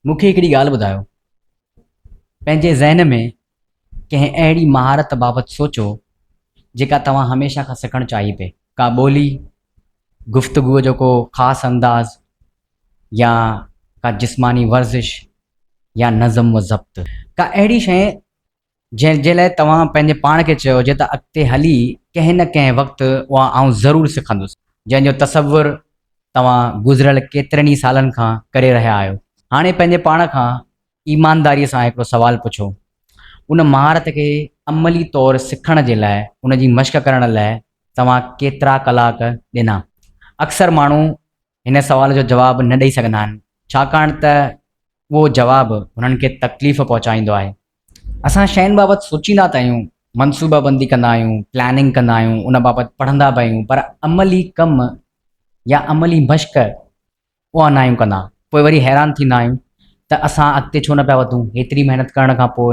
مون کي هڪڙي ڳالهه ٻڌايو. پنهنجي ذهن ۾ ڪنهن اهڙي مهارت بابت سوچو جيڪا توهان هميشه کان سکڻ چاهي پئي. ڪا ٻولي، گفتگوء جو ڪو خاص انداز يا ڪا جسماني ورزش يا نظم و ضبط. ڪا اهڙي شيء جنهن جي لاء توهان پنهنجي پاڻ کي چيو هجي ته اڳتي هلي ڪنهن نه ڪنهن وقت اها آئون ضرور سکندس، جنهن جو تصور توهان گذريل ڪيترن ئي سالن کان ڪري رهيا آهيو. هاڻي پنهنجي پاڻ کان ايمانداريء سان هڪڙو سوال پڇو، ان مهارت کي عملي طور سکڻ جي لاء، ان جي مشق ڪرڻ لاء توهان ڪيترا ڪلاڪ ڏنا؟ اڪثر ماڻهو هن سوال جو جواب نه ڏئي سگهندا آهن، ڇاڪاڻ ته اهو جواب هنن کي تڪليف پهچائيندو آهي. اسان شين بابت سوچيندا ته آهيون، منصوبابندي ڪندا آهيون، پلاننگ ڪندا آهيون، ان بابت پڙهندا به آهيون، پر عملي ڪم يا عملي مشق اها نه آهيون ڪندا. پوء وري حيران ٿيندا آهيون ته اسان اڳتي ڇو نه پيا وڌون، هيتري محنت ڪرڻ کان پوء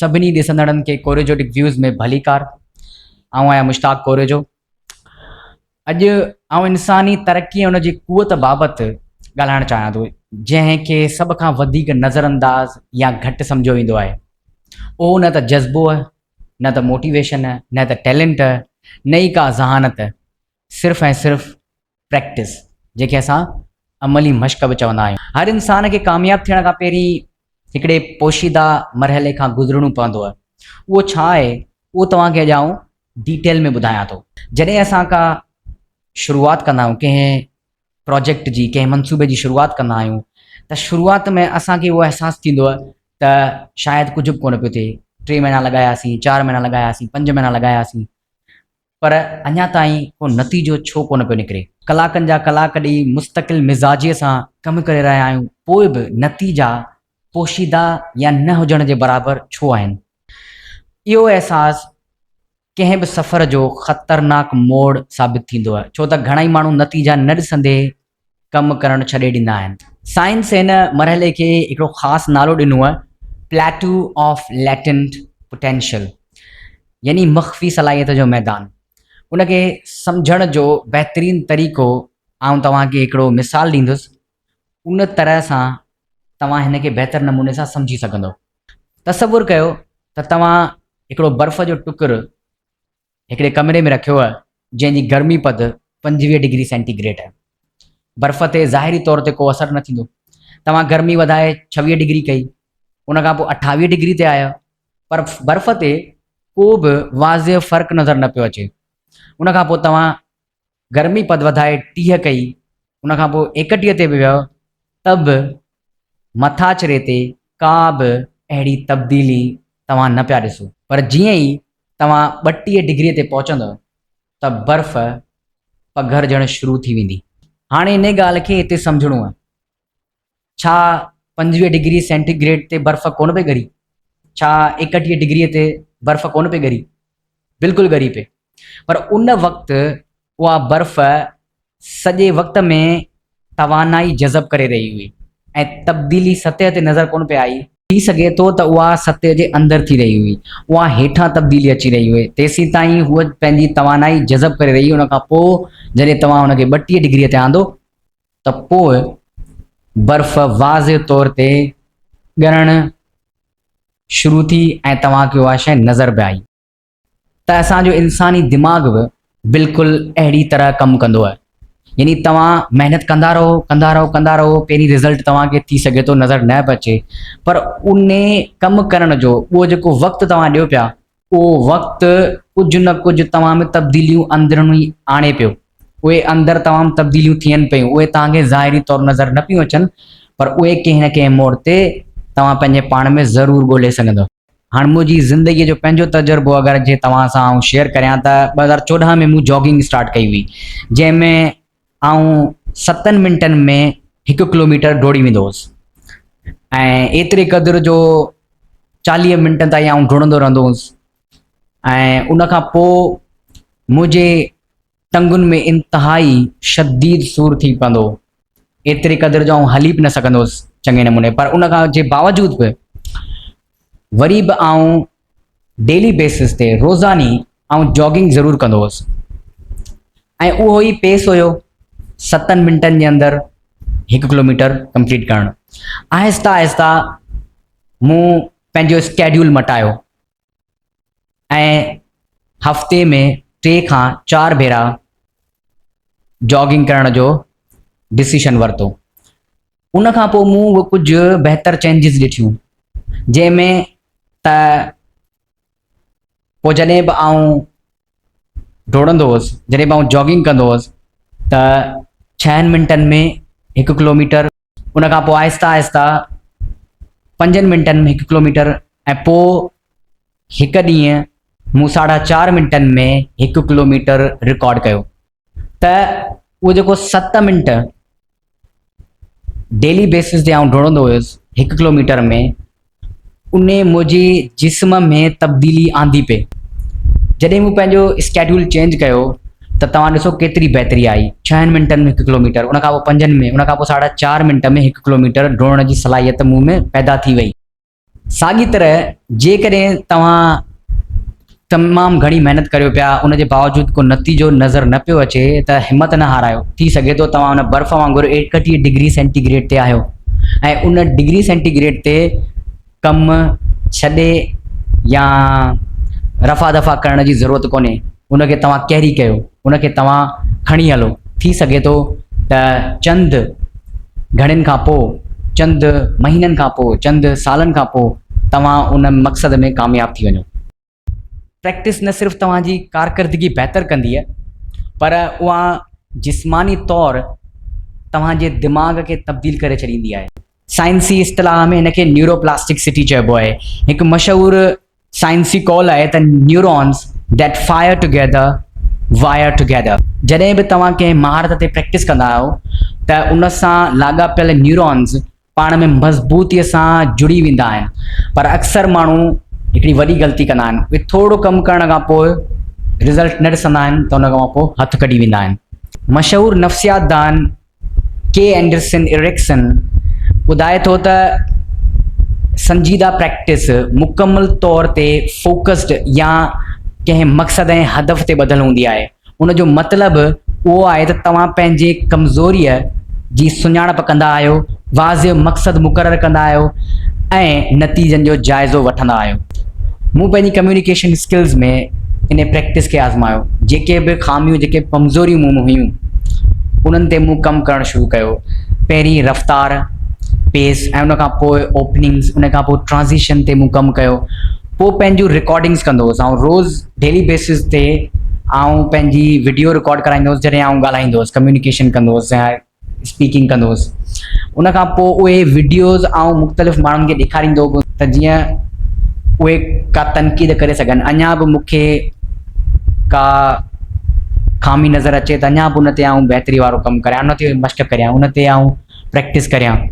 سڀني ڏسندڙن کي ڪوريجوٽڪ ويوز ۾ ڀليڪار. آئون آهيان مشتاق ڪوريجو. اڄ آئون انساني ترقي ۽ ان جي قوت بابت ڳالهائڻ چاهيان ٿو، جنهن کي سڀ کان وڌيڪ نظرانداز يا گهٽ سمجهيو ويندو آهي. اهو نه ته جذبوء، نه ته موٽيويشن، نه ته ٽيلنٽ، نه ئي ڪا ذهانت، صرف ۽ صرف پريڪٽس جنهن کي اسان عملي مشق به چوندا آهيون. هر انسان کي ڪامياب ٿيڻ کان پهرين هڪڙي پوشيده مرحلي کان گذرڻو پوندو. اهو ڇا آهي اهو توهان کي اڄ آئون ڊيٽيل ۾ ٻڌايان ٿو. جڏهن اسان ڪا شروعات ڪندا آهيون ڪنهن پراجيڪٽ جي ڪنهن منصوبي جي شروعات ڪندا آهيون ته شروعات ۾ اسان کي اهو احساس ٿيندو ته شايد ڪجهه به ڪونه پيو ٿئي ٽي مهينا لڳاياسين چار مهينا لڳاياسين پنج مهينا لڳاياسين پر اڃا تائين ڪو نتيجو ڇو ڪونه پيو نڪري؟ ڪلاڪن جا ڪلاڪ ڏيئي مستقل مزاجيء سان ڪم ڪري رهيا آهيون، پوء به نتيجا پوشيده يا نه هجڻ جي برابر ڇو آهن؟ اهو احساس ڪنهن به سفر جو خطرناڪ موڙ ثابت ٿيندو آهي، ڇو ته گهڻائي ماڻهو نتيجا نه ڏسندي ڪم ڪرڻ ڇڏي ڏيندا آهن. سائنس هن مرحلي کي هڪڙو خاص نالو ڏنو آهي، Plateau of Latent Potential يعني مخفي صلاحيت جو ميدان. ان کي سمجهڻ جو بهترين طريقو آئون توهان کي هڪڙو مثال ڏيندس، ان طرح سان توهان هن کي بهتر نموني سان سمجهي سگهندؤ. تصور ڪيو ته توهان هڪڙو برف جو ٽڪر هڪڙي ڪمري ۾ رکيو هو، جنهن جي گرمي پد پنجويهه ڊگري سينٽي گريڊ هئي. برف تي ظاهري طور تي ڪو اثر نه ٿيندو. توهان گرمي وڌائي ڇويهه ڊگري ڪئي، ان کان پوء اٺاويهه ڊگري تي آيا، پر برف تي ڪو به واضح فرق نظر نه پيو اچي. ان کان پوء توهان گرمي پد وڌائي ٽيهه ڪئي، ان کان پوء ايڪٽيهه تي به ويو ته به مٿاڇري تي ڪا به اهڙي تبديلي توهان نه پيا ڏسو، پر جيئن ئي توهان ٻٽيهه ڊگريء تي پهچندؤ ته برف پگهرجڻ شروع ٿي ويندي. هاڻي انهيء ڳالهه کي هتي سمجهڻو آهي ڇا پنجويهه ڊگري سينٽي گريڊ تي برف ڪونه پئي ڳري؟ ڇا ايڪٽيهه ڊگريء تي برف ڪونه پئي ڳري؟ بلڪل ڳري پئي. پر ان وقت اها برف سڄي وقت ۾ توانائي جذب ڪري رهي هئي ۽ تبديلي سطح تي نظر ڪونه پئي آئي. ٿي سگهي ٿو ته اها سطح جي اندر ٿي رهي هئي. اها هيٺان تبديلي اچي رهي هئي. تيسيتائين هوء پنهنجي توانائي جذب ڪري رهي هئي. ان کان پوء جڏهن توهان هن کي ٻٽيهه ڊگريء تي آندو ته پوء برف واضع طور تي ڳرڻ شروع ٿي ۽ توهان کي اها شيء نظر به آئي ته اسان جو انساني دماغ به بلڪل اهڙي طرح ڪم ڪندو آهي. يعني توهان محنت ڪندا رهو ڪندا رهو ڪندا رهو پهرين رزلٽ توهان کي ٿي سگهي ٿو نظر نه به اچي پر انهي ڪم ڪرڻ جو اهو جيڪو وقت توهان ڏيو پيا اهو وقت ڪجهه نه ڪجهه توهان ۾ تبديليون اندروني آڻي پيو. اهي اندر توهان ۾ تبديليون ٿين پيون، اهي توهان کي ظاهري طور نظر نه پيون اچن، پر اهي ڪنهن نه ڪنهن موڙ تي توهان پنهنجي پاڻ ۾ ضرور ڳولهي سگهندؤ. هاڻ منهنجي زندگيء جو پنهنجو تجربو اگر جي توهان سان آئون شيئر ڪريان ته ٻه هزار چوڏهن ۾ مون جاگنگ اسٽارٽ ڪئي هئي، جنهن ۾ آئون ستن منٽن ۾ هڪ ڪلوميٽر ڊوڙي ويندو هوس ۽ ايتري قدر جو چاليهه منٽن تائين آئون ڊوڙندو رهندو هوس ۽ ان کان پوء منهنجي ٽنگن ۾ انتهائي شديد سور ٿي پوندو هو ايتري قدر جو آئون هلي به نه سگهندو هوس چڱي نموني پر ان کان جي باوجود به وري به آئون ڊيلي بيسز تي روزاني آئون جاگنگ ضرور ڪندو هوس ۽ اهو ئي پيس هيو ستن منٽن جي اندر هڪ ڪلوميٽر ڪمپليٽ ڪرڻ آهستي آهستي مون پنهنجو اسڪيڊول مٽايو ۽ هفتي ۾ ٽي کان چار ڀيرا جاگنگ ڪرڻ جو ڊسيشن ورتو ان کان پوء مون به ڪجهه بهتر چينجز ڏٺيون جنهن ۾ ته پوء جڏهن به آئون ڊوڙندو هوس جڏهن به آئون جاگنگ ڪندو هوس ته ڇهن منٽن ۾ هڪ ڪلوميٽر ان کان پوء آهسته آهسته پنجن منٽن ۾ هڪ ڪلوميٽر ۽ پوء هڪ ڏينهن مون ساڍا چار منٽن ۾ هڪ ڪلوميٽر رڪارڊ ڪيو ته اهو جيڪو ست منٽ ڊيلي بيسس تي آئون ڊوڙندو هيس هڪ ڪلوميٽر ۾ ان منهنجي جسم ۾ تبديلي آندي پئي جڏهن مون پنهنجو اسڪيڊول چينج ڪيو ته توهان ڏسو ڪيتري بهتري آئي ڇهن منٽن ۾ هڪ ڪلوميٽر ان کان پوء پنجن ۾ ان کان پوء ساڍا چار منٽ ۾ هڪ ڪلوميٽر ڊوڙڻ جي صلاحيت مون ۾ پيدا ٿي وئي ساڳي طرح جيڪڏهن توهان تمام گهڻي محنت ڪريو پيا ان جي باوجود ڪو نتيجو نظر نه پيو اچي ته همت نه هارايو ٿي سگهي ٿو توهان ان برف وانگر ايڪٽيهه ڊگري سينٽي گريڊ تي آهيو ۽ ان ڊگري سينٽي گريڊ تي ڪم ڇڏي يا رفع دفع ڪرڻ جي ضرورت ڪونهي. ان کي توهان ڪيري ڪيو، ان کي توهان کڻي هلو. ٿي سگهي ٿو ته چند گهڙين کان پوء، چند مهينن کان پوء، چند سالن کان پوء توهان ان مقصد ۾ ڪامياب ٿي وڃو. پريڪٽس نه صرف توهان جي ڪارڪردگي بهتر ڪندي پر اها جسماني طور توهان جي دماغ کي تبديل ڪري ڇڏيندي آهي. سائنسي اصطلاح ۾ ان کي نيوروپلاسٽڪسٽي چئبو آهي. هڪ مشهور سائنسي قول آهي ته neurons that fire together wire together جڏهن به توهان ڪنهن مهارت تي پريڪٽس ڪندا آهيو ته ان سان لاڳاپيل نيورونز پاڻ ۾ مضبوطي سان جڙي ويندا آهن پر اڪثر ماڻهو هڪڙي وڏي غلطي ڪندا آهن اهي ٿورو ڪم ڪرڻ کان پوء رزلٽ نه ڏسندا آهن ته ان کان پوء هٿ ڪڍي ويندا آهن مشهور نفسيات دان ڪي اينڊرسن ايرڪسن ٻڌائي ٿو ته سنجيده پريڪٽس مڪمل طور تي فوڪسڊ يا ڪنهن مقصد ۽ هدف تي ٻڌل هوندي آهي. ان جو مطلب اهو آهي ته توهان پنهنجي ڪمزوريء جي سڃاڻپ ڪندا آهيو، واضع مقصد مقرر ڪندا آهيو ۽ نتيجن جو جائزو وٺندا آهيو. مون پنهنجي ڪميونيڪيشن اسڪلز ۾ انهي پريڪٽس کي آزمايو. جيڪي به خاميون جيڪي به ڪمزوريون مون ۾ هيون انهن تي مون ڪم ڪرڻ شروع ڪيو. پهرين رفتار، پيس ۽ ان کان پوء اوپننگز ان کان پوء ٽرانزيشن تي مون ڪم ڪيو. پوء پنهنجون رڪارڊنگز ڪندو هوس. آئون روز ڊيلي بيسز تي آئون پنهنجي وڊيو رڪارڊ ڪرائيندو هوس جڏهن آئون ڳالهائيندو هوس ڪميونيڪيشن ڪندو هوس. اسپيڪنگ ڪندو هوس ان کان پوء اهي وڊيوز آئون مختلف ماڻهن کي ڏيکاريندو به هوس ته جيئن اهي ڪا تنقيد ڪري سگهن اڃا به مون کي ڪا خامي نظر اچي ته اڃا به ان تي آئون بهتري وارو ڪم ڪريان ان تي مشق ڪريان ان تي آئون پريڪٽس ڪريان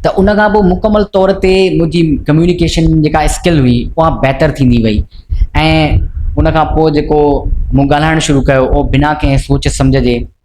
ته ان کان پوء مڪمل طور تي منهنجي ڪميونيڪيشن جيڪا اسڪل هئي اها بهتر ٿيندي وئي ۽ ان کان پوء جيڪو مون ڳالهائڻ شروع ڪيو اهو بنا ڪنهن سوچ سمجهه جي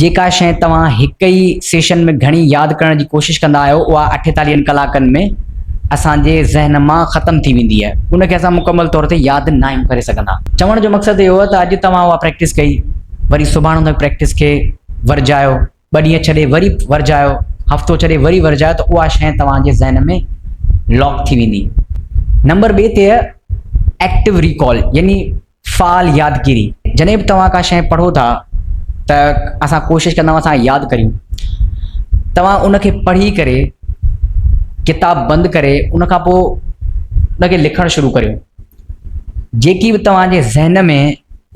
جيڪا شيء توهان هڪ ئي سيشن ۾ گهڻي ياد ڪرڻ جي ڪوشش ڪندا آهيو، اها اٺيتاليهن ڪلاڪن ۾ اسان جي ذهن مان ختم ٿي ويندي آهي. ان کي اسان مڪمل طور تي ياد ناهيون ڪري سگهندا. چوڻ جو مقصد اهو ته اڄ توهان اها پريڪٽس ڪئي، وري سڀاڻ ان پريڪٽس کي ورجايو، ٻه ڏينهن ڇڏي وري ورجايو، هفتو ڇڏي وري ورجايو ته اها شيء توهان جي ذهن ۾ لاڪ ٿي ويندي. نمبر ٻئي تي اهي ايڪٽو ريڪال يعني فعال يادگيري، جڏهن به توهان ڪا شيء پڙهو ٿا ته اسان ڪوشش ڪندا آهيون اسان ياد ڪريون. توهان ان کي پڙهي ڪري ڪتاب بند ڪري ان کان پوء ان کي لکڻ شروع ڪريو. جيڪي به توهان جي ذهن ۾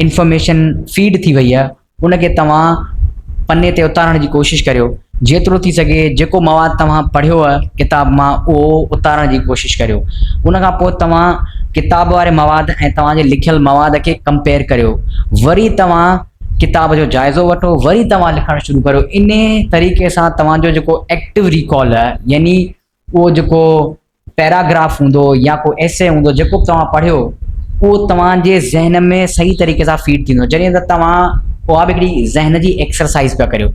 انفارميشن فيڊ ٿي وئي آهي ان کي توهان پني تي اتارڻ جي ڪوشش ڪريو. جيترو ٿي سگهي جيڪو مواد توهان پڙهيو آهي ڪتاب مان اهو اتارڻ جي ڪوشش ڪريو. ان کان پوء توهان ڪتاب واري مواد ۽ توهان جي لکيل مواد کي ڪمپيئر ڪريو. وري توهان ڪتاب جو جائزو وٺو وري توهان لکڻ شروع ڪريو. انهي طريقي سان توهان جو جيڪو ايڪٽو ريڪال يعني اهو جيڪو پيراگراف هوندو يا ڪو ايسي هوندو جيڪو به توهان پڙهيو اهو توهان جي ذهن ۾ صحيح طريقي سان فيٽ ٿيندو جڏهن ته توهان اها به هڪڙي ذهن جي ايڪسرسائز پيا ڪريو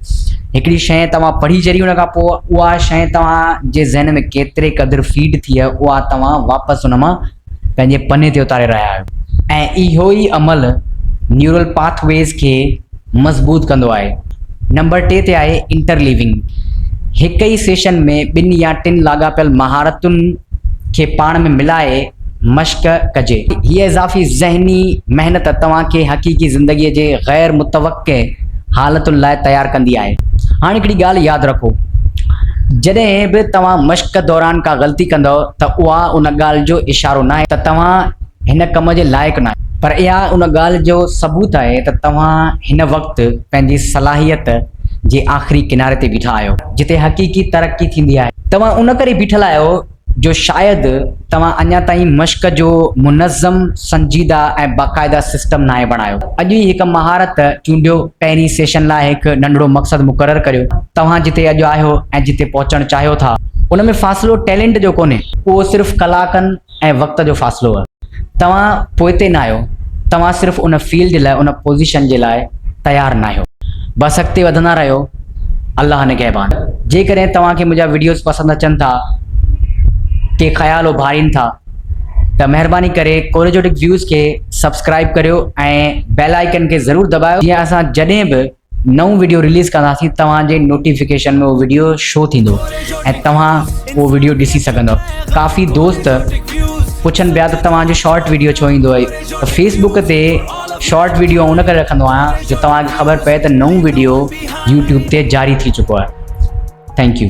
هڪڙي شيء توهان پڙهي جڏهن ان کان پوء اها شيء توهان جي ذهن ۾ ڪيتري قدر فيٽ ٿي اها توهان واپس ان مان پنهنجي پني تي اتاري رهيا آهيو ۽ اهو ئي عمل نيورل پاٿ ويز کي مضبوط ڪندو آهي. نمبر ٽي تي آهي انٽرليونگ. هڪ ئي سيشن ۾ ٻن يا ٽن لاڳاپيل مهارتن کي پاڻ ۾ ملائي مشق ڪجي. هيء اضافي ذهني محنت توهان کي حقيقي زندگيء جي غير متوقع ڪي حالتن لاء تيار ڪندي آهي. هاڻ هڪڙي ڳالهه ياد رکو جڏهن به توهان مشق دوران ڪا غلطي ڪندؤ ته اها ان ڳالهه جو اشارو ناهي ته توهان هن ڪم جي لائق ناهيو، پر اها ان ڳالهه جو ثبوت آهي ته توهان هن وقت پنهنجي صلاحيت جي آخري ڪناري تي بيٺا آهيو جتي حقيقي ترقي ٿيندي آهي. توهان ان ڪري بيٺل آهيو جو شايد توهان اڃا تائين مشق جو منظم، سنجيده ۽ باقاعده سسٽم ناهي بڻايو. اڄ ئي هڪ مهارت چونڊيو، پهرين سيشن لاء هڪ ننڍڙو مقصد مقرر ڪريو، توهان جتي اڄ آهيو ۽ جتي پهچڻ چاهيو ٿا، ان ۾ فاصلو ٽيلنٽ جو ڪونهي، اهو صرف ڪلاڪن ۽ وقت جو فاصلو آهي، توهان پوئتي ناهيو، توهان صرف ان فيلڊ لاء، ان پوزيشن جي لاء تيار ناهيو، بس اڳتي وڌندا رهيو، الله نگهبان جيڪڏهن توهان کي منهنجا وڊيوز پسند اچن ٿا ڪي خيال اڀارين ٿا ته مهرباني ڪري ڪوريجوٽڪ ويوز کي سبسڪرائب ڪريو ۽ بيل آئيڪن کي ضرور دٻايو جيئن اسان جڏهن به نئون وڊيو رليز ڪنداسين توهان جي نوٽيفڪيشن ۾ اهو وڊيو شو ٿيندو ۽ توهان اهو وڊيو ڏسي سگهندو ڪافي دوست پڇن پيا ته توهان جو شارٽ وڊيو ڇو ايندو آهي ته فيسبوڪ تي شارٽ ويڊيو ان ڪري رکندو آهيان جو توهان کي خبر پئي ته نئون ويڊيو يوٽيوب تي جاري ٿي چڪو آهي ٿينڪ يو